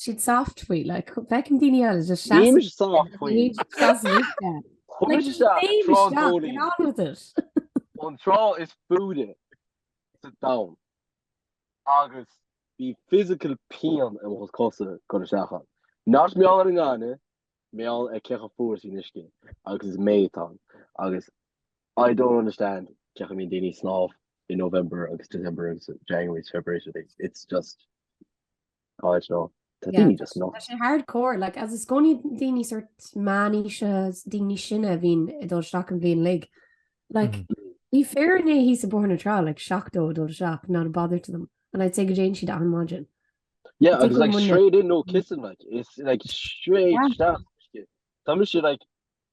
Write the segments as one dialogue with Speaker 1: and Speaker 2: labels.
Speaker 1: siad soft faoi like feicim daoine eile just seasamh Níl siad soft faoi. Níl
Speaker 2: siad seasamh
Speaker 1: istigh. Chuaigh Like, isteach ag féin trá isteach, get Dóilín, on with it. an trá
Speaker 2: is faide sa domhan, agus bhí physical pian i mo chosa dul isteach ann. Not mar gheall ar an ngaineamh, mar gheall ar cé chomh fuar is a bhí an uisce agus is May atá ann agus I don't understand cén chaoi a mbíonn daoine ag snámh in November agus December agus January agus February, it's just. I don't know tá daoine just nó. Tá sé hard core like
Speaker 1: is i gcónaí daoine sort meánaoise daoine sine a bhíonn ag dul isteach an bhliain uilig like bhí fear inné thíos ag Bóthar na Trá like 70 ag dul isteach not a bother to them and I'd say go dtéann siad an maidin. Yeah
Speaker 2: agus like straight in no kissing like is like straight isteach uisce. Tá mise like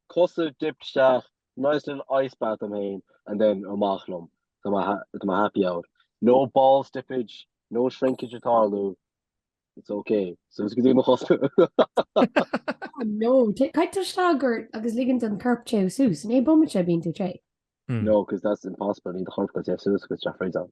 Speaker 2: cosa dipped isteach nice little ice bath dom féin and then amach liom tá mé happy out. No balls dippage, no shrinkage ag tarlú, it's ok. So is go dtí mo chos.
Speaker 1: Oh no, caithfidh tú dul isteach i gceart agus ligean don corp téamh suas, i ndiaidh bomaite bíonn tú te? No, 'cause that's
Speaker 2: impossible, níl do chorp ag téamh suas agus teach freisin.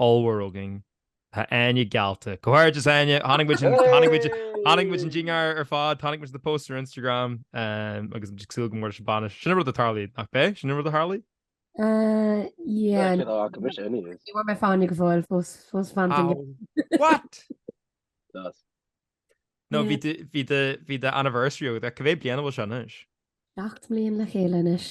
Speaker 3: ollmhór againn. Tá Áine geallta. Comhghairdeas Áine. Chonaic muid an, chonaic muid, chonaic muid an ding ar ar fad, chonaic muid the post ar Instagram agus muid ag súil go mór leis an bainis. Sin an rud a tharlaíonn, nach b'é? Sin an rud a tharlaíonn? Sea, Cén fáth
Speaker 1: go mise inniu? ní bhfuair mé Fáinne go fóill, fós, fós fan den Ow. gheimhreadh.
Speaker 3: What? Does. No, bhí do, bhí do, bhí do anniversary agat, cá mhéad bliain a bhfuil seo anois? Seacht mbliain
Speaker 1: le chéile anois.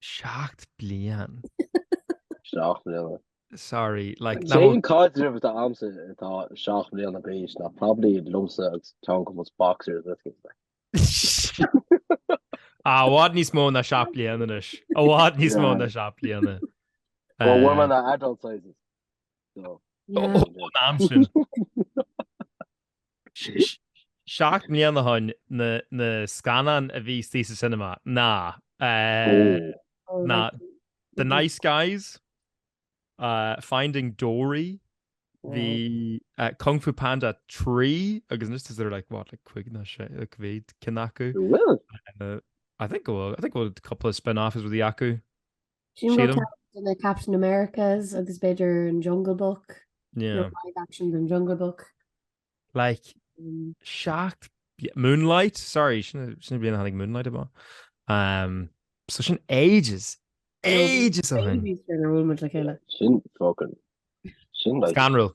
Speaker 3: Seacht bliain?
Speaker 2: Seacht mbliana.
Speaker 3: Sorry, like, an t-aon caidreamh
Speaker 2: atá agamsa atá seacht mbliana d'aois ná probably liomsa agus ceann de mo boxers uisce mé.
Speaker 3: Ah, i bhfad níos mó ná seacht bliain anois. I bhfad níos mó ná seacht bliana. Well, we're
Speaker 2: in our adult sizes, so. Ó, ná amsúil.
Speaker 3: Seacht mbliana ó shin na scannáin a bhí istigh sa cinema ná ná The Nice Guys, Finding Dory, bhí Kung Fu Panda 3 agus anois is there like what like cúig nó sé like cá mhéad cinn acu. An bhfuil? I think go bhfuil. I think go bhfuil a couple of spin-offs with the acu.
Speaker 1: Sílim. Ceann de na Captain Americas agus b'fhéidir an Jungle Book.
Speaker 3: Yeah. Live action den
Speaker 1: Jungle Book. Like
Speaker 3: mm. seacht Moonlight, sorry, sin sin bliana hanig Moonlight ba. Um, so sin ages ages a hun. Sin fucking.
Speaker 2: Sin like. Scanrel.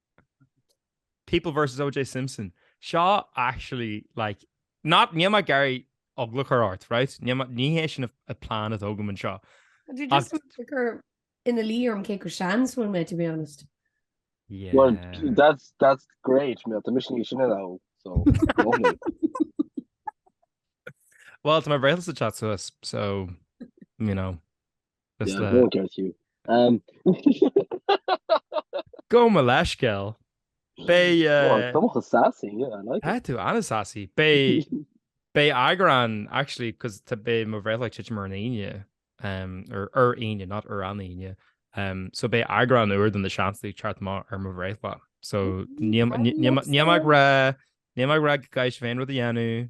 Speaker 3: People versus OJ Simpson. Seo actually like not níl mé ag iarraidh eagla a chur ort, right? Ní hé sin an plean atá agam anseo. Tá tú just
Speaker 1: ag cur ina luí orm cé chomh sean is a bhfuil mé to be honest. Yeah. Well, that's
Speaker 2: that's great, man. Tá mise níos sine ná thú
Speaker 3: so. Well, tá mo bhreithlása ag teacht suas so you know.
Speaker 2: Is le. Go
Speaker 3: gceart fiú. Gabh mo leithscéal. Beidh. Tá mucha
Speaker 2: sassy, yeah, I like it. Tá tú an-sassy.
Speaker 3: Beidh eagrán, actually, cos beidh mo bhreithlá ag titim ar an Aoine, or ar Aoine, not ar an Aoine, so beidh eagrán úr den The Seansálaithe ag teacht amach ar mo bhreithlá. So níl mé ag rá go gcaithfidh sibh aon rud a dhéanamh.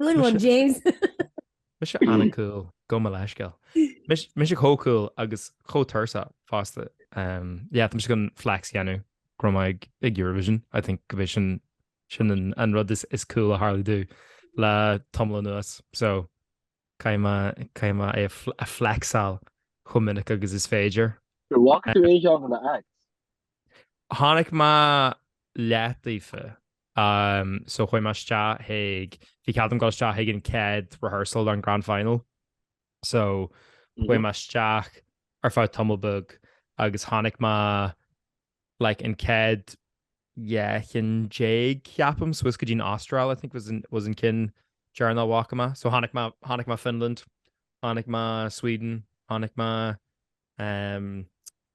Speaker 1: Good one, James!
Speaker 3: Mise an-cool, gabh mo leithscéal. Mise chomh cool agus chomh tuirseach fosta. Yeah, tá mise chun flex a dhéanamh go raibh mé ag Eurovision. I think gurb é sin an rud is cool a tharla domh le tamall anuas. So, caithfidh mé é a flexáil chomh minic agus is féidir.
Speaker 2: An bhfaca tú aon
Speaker 3: cheann de na acts? Chonaic mé leath daofa. Ahm, so chuaigh mé isteach ag, bhí cead agam dul isteach ag an chéad rehearsal don grand final. So chuaigh mé isteach ar feadh tamall beag agus chonaic mé like an chéad dhá cheann déag ceapaim, suas go dtí'n Astráil I think was an ceann deireanach a bhfaca mé. So chonaic mé, chonaic mé Finland, chonaic mé Sweden, chonaic mé ehm.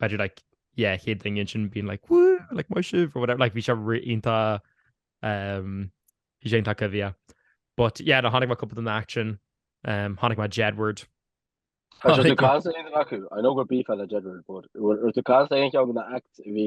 Speaker 3: b'fhéidir like yeah chéad duine ansin being like woo like maith sibh or whatever like bhí sé ri- iontach um, bhí sé iontach coimhthíoch. But yeah no chonaic mé cúpla de na acts sin um, chonaic mé Jedward Tá sé chonaic-
Speaker 2: tú ag caint le aon acu. I know go mbeifeá le Jedward, but raibh- raibh tú ag caint le aon cheann de na acts bhí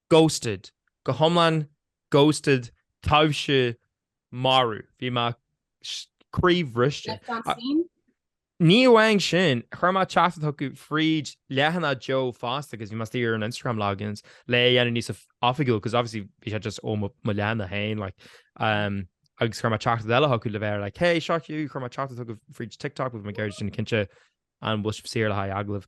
Speaker 3: Ghosted, go hiomlán Ghosted taibhse marú bhí mé croíbhriste. Left on seen? Ní amháin sin, chuir mé teachtaireacht chucu fríd leathanach Joe fosta agus bhí mé istigh ar an Instagram logins le é dhéanamh níos oifigiúil because obviously bhí sé just ó mo leathanach féin like agus chuir mé teachtaireacht eile chucu le bheith like hey seo Hugh, chuir mé teachtaireacht chucu fríd TikTok agus bhí mé ag iarraidh déanamh cinnte an bhfuil sibh saor le haghaidh agallaimh?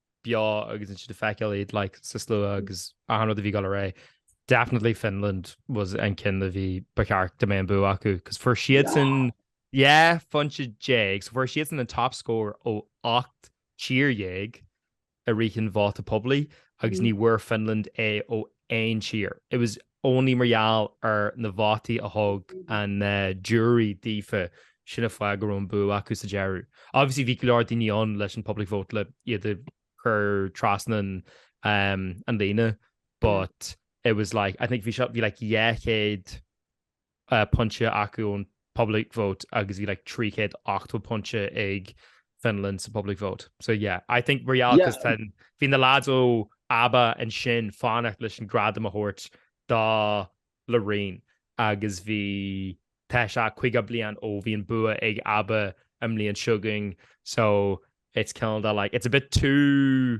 Speaker 3: beo agus ansin ag feiceáil iad like sa slua agus an rud a bhí ag gabháil ar aghaidh. Definitely Finland was an ceann a bhí ba cheart go mbeadh an bua acu, cos fuair siadsan dhá phointe déag, so fuair siadsan an top score ó 8 tír dhéag i rith an vóta poiblí agus ní bhfuair Finland é ó aon tír. It was only mar gheall ar na vótaí a thug an jury daofa sin an fáth go raibh an bua acu sa deireadh. Obviously bhí go leor daoine ann leis an public vote le iad a chur trasna an líne but it was like I think bhí sé bhí like dhá chéad pointe acu ón public vote agus bhí like 380 pointe ag Finland sa public vote. So yeah, I think mar gheall cos tá, bhí na lads ó ABBA ansin fanacht leis an gradam a thabhairt do Loreen agus bhí, tá sé 50 bliain ó bhí an bua ag ABBA an mbliain seo chugainn so it's kinda like, it's a bit too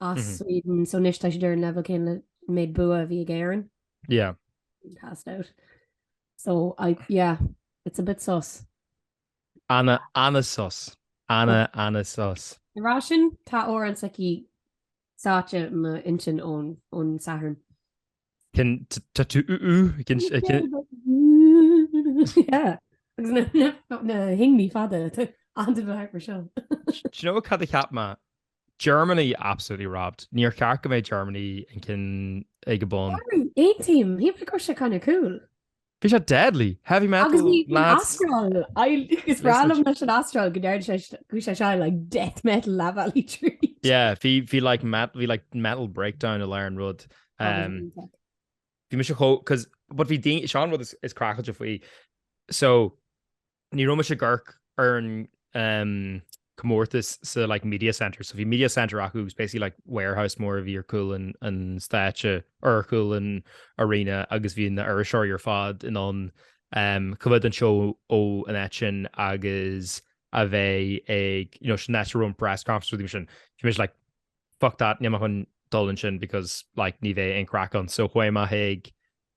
Speaker 1: as Sweden so anois tá siad ar an leibhéal céanna le an méid bua a bhí ag Éirinn.
Speaker 3: Yeah. Being passed
Speaker 1: out. So I, yeah, it's a bit sus. Ana,
Speaker 3: ana sus. Ana, ana sus. Ag rá sin, tá
Speaker 1: amhrán s'aici sáite i m'intinn ón, ón Satharn.
Speaker 3: Cin, t, tattoo u, u, cin, si,
Speaker 1: cin, Yeah, agus na, na, na hingne fada, the, under the heart for sure. Do you know cad
Speaker 3: a cheap mé? Germany absolutely robbed. Níor cheart go mbeidh Germany an ceann ag an bun. Aontaím!
Speaker 1: Shíl mé go raibh sé kind of cool. Bhí sé deadly!
Speaker 3: Heavy metal lads! Agus bhí an Astráil,
Speaker 1: is breá liom leis an Astráil go ndearna sé go sé seo like death metal La Valley Treat. Yeah, bhí
Speaker 3: bhí like metal bhí like metal breakdown i lár an rud. Bhí mise chomh 'cause but bhí daoine, seo an rud is craiceáilte faoi so, Ní raibh mise ag amharc ar an comórtas sa like media centre so bhí media centre acu agus basically like warehouse mór a bhí ar chúl an an stáitse ar chúl an arena agus bhí na iriseoirí ar fad in ann um, coimhéad an seó ó an áit sin agus a bheith ag you know, sin áit a raibh an press conference rudaí sin. Bhí mise like fuck that, níl mé chun dul ansin because like ní bheidh an craic ann so chuaigh mé chuig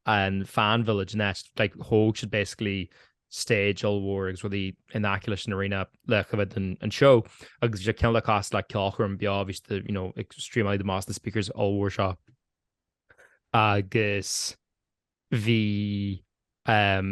Speaker 3: an fan village next, like thóg siad basically stage ollmhór agus rudaí in aice leis an arena le coimhéad an seó agus bhí sé cineál cosúil le ceolchoirm beo bhí siad you know ag streamáil amach as na speakers ollmhór seo agus bhí um,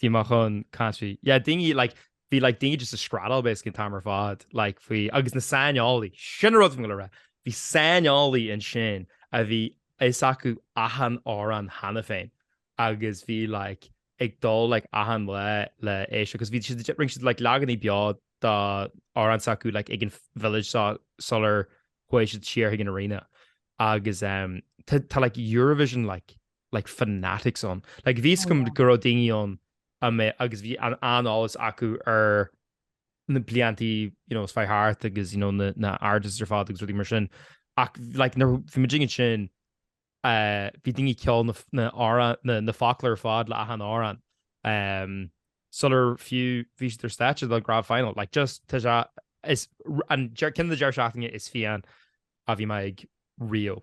Speaker 3: sí mar achan country yeah daoine like bhí like daoine just ag screadaíl basically an t-am ar fad like faoi agus na saineolaithe sin an rud a bhí mé ag dul a rá bhí saineolaithe ansin a bhí a fhios acu achan amhrán cheana féin agus bhí like ag dul like achan lá le éisteacht agus bhí siad rinne siad like leaganaí beo dá amhrán s'acu like ag an village so sular chuaigh siad siar chuig an arena agus ehm tá tá like Eurovision like like fanatics ann. Like bhí a fhios agam go raibh daoine ann a mbeadh agus bhí an an-eolas acu ar na bliantaí you know a chuaigh thart agus you know na na artists ar fad agus rudaí mar sin ach like nuair bhí muid ag sin eh, bhí daoine ceol na na amhrán na na focla ar fad le achan amhrán em, sular fiú bhí siad ar stáitse le grand final like just tá sé is an ceann de deireadh seachtaine is fiáine a bhí mé ag riamh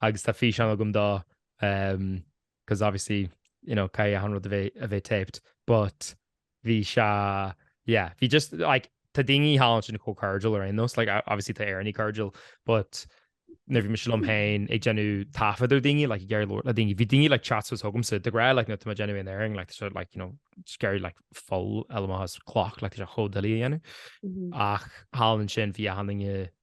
Speaker 3: agus tá físeán agam dó because obviously you know caithfidh achan rud a bheith a bheith taped but bhí sé yeah bhí just like tá daoine thall ansin chomh cordial ar aon nós like obviously tá Éirinn cordial but nuair a bhí mise liom féin ag déanamh taifead ar daoine like go leor leor na daoine bhí daoine like chats a thosú liomsa de ghrá like nó tá déanamh an airing like so like you know scair like full eile has clock like tá sé chomh doiligh a dhéanamh ach thall ansin bhí achan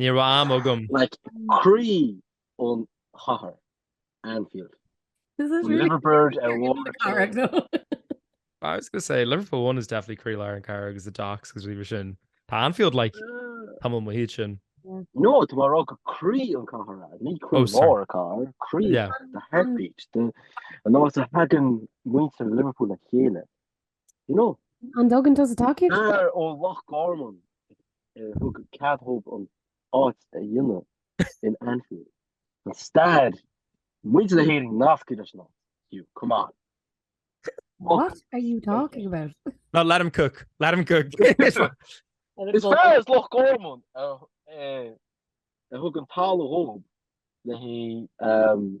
Speaker 3: Ní raibh am agam. Like
Speaker 2: croí an chathair, Anfield. This
Speaker 1: is really Liverbird ar bharr an
Speaker 3: chathair though. I was going to say, Liverpool One is definitely croílár an chathair agus the docks agus rudaí mar sin. Tá Anfield like tamall maith uaidh sin. No, tá mé ag
Speaker 2: rá gur croí an chathair é, ní croílár an chathair, croí, the heartbeat, an áit a thagann muintir Liverpool le chéile. You
Speaker 1: know? An dtuigeann tusa gur? Fear ó Loch
Speaker 2: Garman a thug cead dhóibh an áit a dhéanamh in Anfield. Tá stair muintir na hÉireann nasctha leis an áit, Hugh, come on.
Speaker 1: What are you talking about? No, let him
Speaker 3: cook, let him
Speaker 2: cook. Is fear as Loch Garman a thug an talamh dhóibh le haghaidh.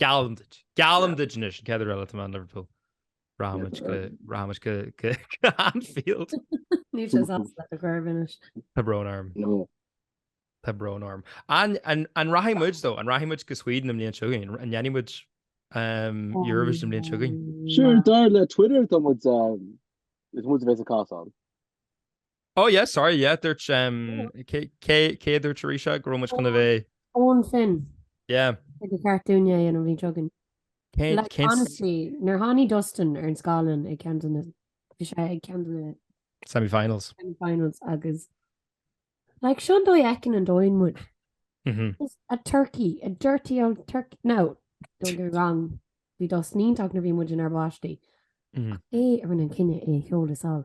Speaker 3: Geallaim duit. Geallaim duit anois an céad uair eile atá mé in Liverpool. Rachaidh muid go rachaidh muid go go go Anfield. Níl sé ach
Speaker 1: le cur i bhfeidhm anois. Tá brón orm.
Speaker 2: No. Tá
Speaker 3: brón orm. An an an rachaidh muid dó? An rachaidh muid go Sweden an bhliain seo chugainn? An ndéanfaidh muid um Eurovision an bhliain seo chugainn? Sure, dar le Twitter
Speaker 2: tá muid um is muid a bheas ag hostáil.
Speaker 3: Ó yeah sorry yeah dúirt cé a dúirt arís go raibh muid chun a bheith. Eoin
Speaker 1: Finn. Yeah. Ba
Speaker 3: cheart
Speaker 1: dúinn é an bhliain seo chugainn. Like honestly nuair tháinig Dustin ar an scáileán ag ceann de na bhí sé ag ceann de na semi-finals
Speaker 3: semi-finals
Speaker 1: agus like seo an dóigh a fheiceann an domhan muid. Just a turkey a dirty old turkey no don't get me wrong bhí Dustin iontach nuair bhí muid inár bpáistí ach é a rinne an cinneadh é a sheoladh sall.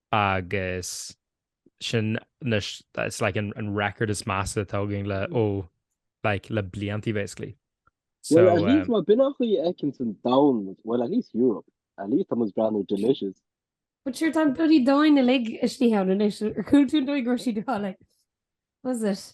Speaker 3: agus sin na it's like an an record is measa atá againn le ó like le bliantaí basically. So Well, at least um, má b'in an
Speaker 2: chaoi a fheiceanns an domhan, well, at least Europe. At least tá muid breathnú delicious. But
Speaker 1: sure tá an bloody domhan uilig istigh ann anois. Ar chuala tú an dóigh go raibh siad á like was it?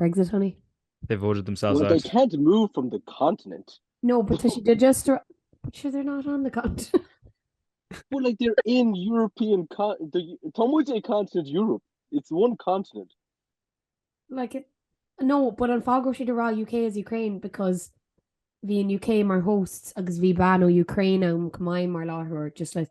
Speaker 1: Brexit honey. They voted themselves
Speaker 3: Well they out. can't move from
Speaker 2: the continent. No but tá siad
Speaker 1: just ar But sure they're not on the continent. But
Speaker 2: like they're in European con- the- Tá muid ag continent Europe. It's one continent.
Speaker 1: Like it- No but an fáth go raibh siad ag rá UK is Ukraine because bhí an UK mar hosts agus bhí bean ó Ukraine ann chomh maith mar láithreoir just like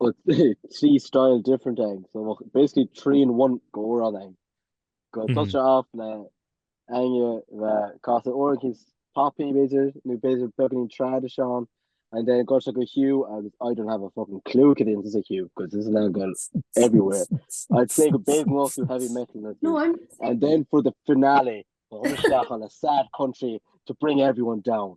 Speaker 2: Well trí style different ag so well, basically trí in one go órán ag go mm. se af le aine cá orintí poppy beidir nó beidir beganí trad seán and then go go Hugh agus I don't have a fucking clue it is a Hugh because this is now gone everywhere I'd say go big most of heavy metal no, I'm... and then
Speaker 1: for the
Speaker 2: finale on a sad country to bring everyone down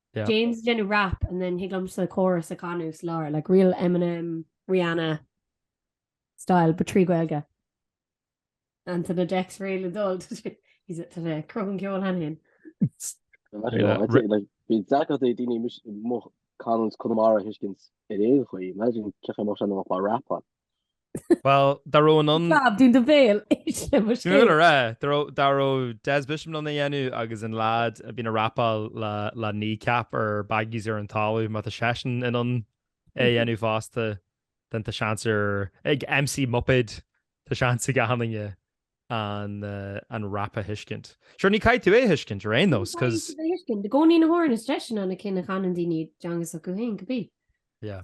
Speaker 1: yeah. James ag déanamh rap and then thig liomsa an chorus a chanadh sa lár like real Eminem, Rihanna style but trí Ghaeilge. Ant on the decks réidh le dul he's a tá sé ag cruthú an cheoil cheana
Speaker 2: féin. Bíonn deacracht ag daoine mo chanúint Conamara a thuiscint ar aon chaoi. Imagine cén chaoi a mbeadh sé dá mbeadh mé ag rapáil.
Speaker 3: Bhuel, dá raibh in ann. Slab dún do
Speaker 1: bhéal isle mo scéal. Dúil ar a,
Speaker 3: dá raibh Des Bishop in ann é a dhéanamh agus an leaid a bhíonn ag rapáil le Kneecap ar baggies ar an talamh, má tá seisean in ann é a dhéanamh fosta, then tá seans ar, ag MC Muipéad, tá seans ag achan duine an rap a thuiscint. Sure, ní chaithfidh tú é a thuiscint ar aon nós, cos. Ní chaithfidh tú é a thuiscint. I gcónaí na
Speaker 1: hamhráin is deise sin iad na cinn a chanann daoine i dteanga s'acu féin, could be. Yeah.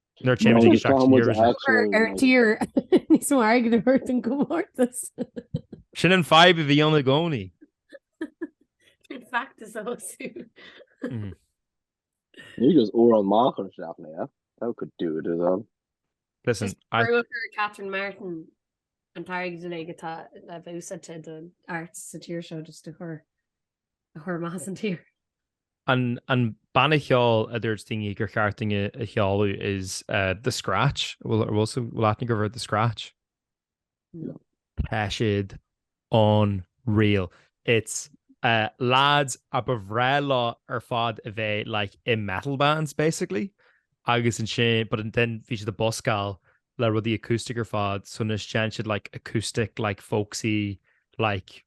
Speaker 3: Nuair a théann muid isteach
Speaker 1: ar an tír níos mar ag na hurt an comórtas. Sin
Speaker 3: an vibe a bhí ann i gcónaí.
Speaker 1: Sin feachtas a thosú.
Speaker 2: Ní just uair an maith chun isteach léa. That could do it as well.
Speaker 3: Listen, I...
Speaker 1: Catherine Martin an t-airgead uilig atá le bheith úsáidte do na arts sa tír seo just a chur a chur amach as an tír.
Speaker 3: An banna cheoil a dúirt daoine gur cheart dúinn a sheoladh is ea The Scratch. An bhfuil siad ag éirí as The Scratch? No. Tá siad
Speaker 1: unreal.
Speaker 3: It's lads a ba bhreá leo ar fad a bheith like i metal bands basically agus ansin but then bhí siad ag buscáil le rudaí acoustic ar fad so now seinneann siad like acoustic like folksy like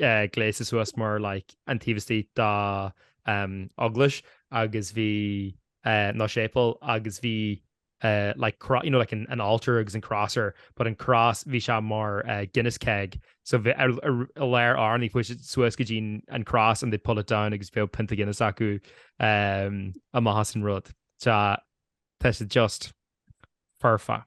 Speaker 3: eh, gléasta suas mar like, an taobh istigh de um, eaglais agus bhí uh, nó séipéal agus bhí uh, like, cro- you know, like an, an altar agus an cross ar, but an cross bhí sé mar uh, Guinness keg. So bhí ar, ar, ar léir ár rith siad suas go dtí an cross and they pull it down agus bhí pionta Guinness acu um, amach as an rud. Tá, tá sé just perfect.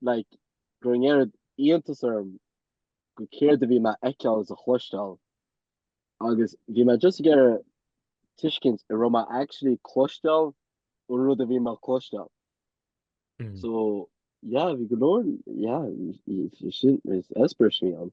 Speaker 2: like, go raibh an oiread iontas orm go céard a bhí mé a fheiceáil is a chloisteáil agus bhí mé just ag iarraidh tuiscint a raibh mé actually ag cloisteáil an rud a bhí mé a chloisteáil. So yeah bhí go leor yeah sin experience a bhí ann.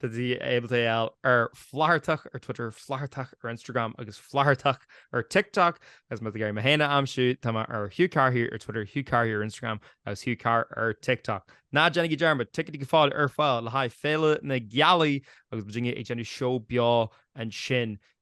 Speaker 3: Tá daoine ábalta mé a fháil ar Flathartach ar Twitter, Flathartach ar Instagram agus Flathartach ar TikTok. Agus más ag iarraidh mé féin a aimsiú, tá mé ar Hugh Carr here ar Twitter, Hugh Carr here ar Instagram agus Hugh Carr ar TikTok. Ná déanaigí dearmad, ticéidí go fóill ar fáil le haghaidh Féile na Gealaí agus muidinne ag déanamh seó beo ansin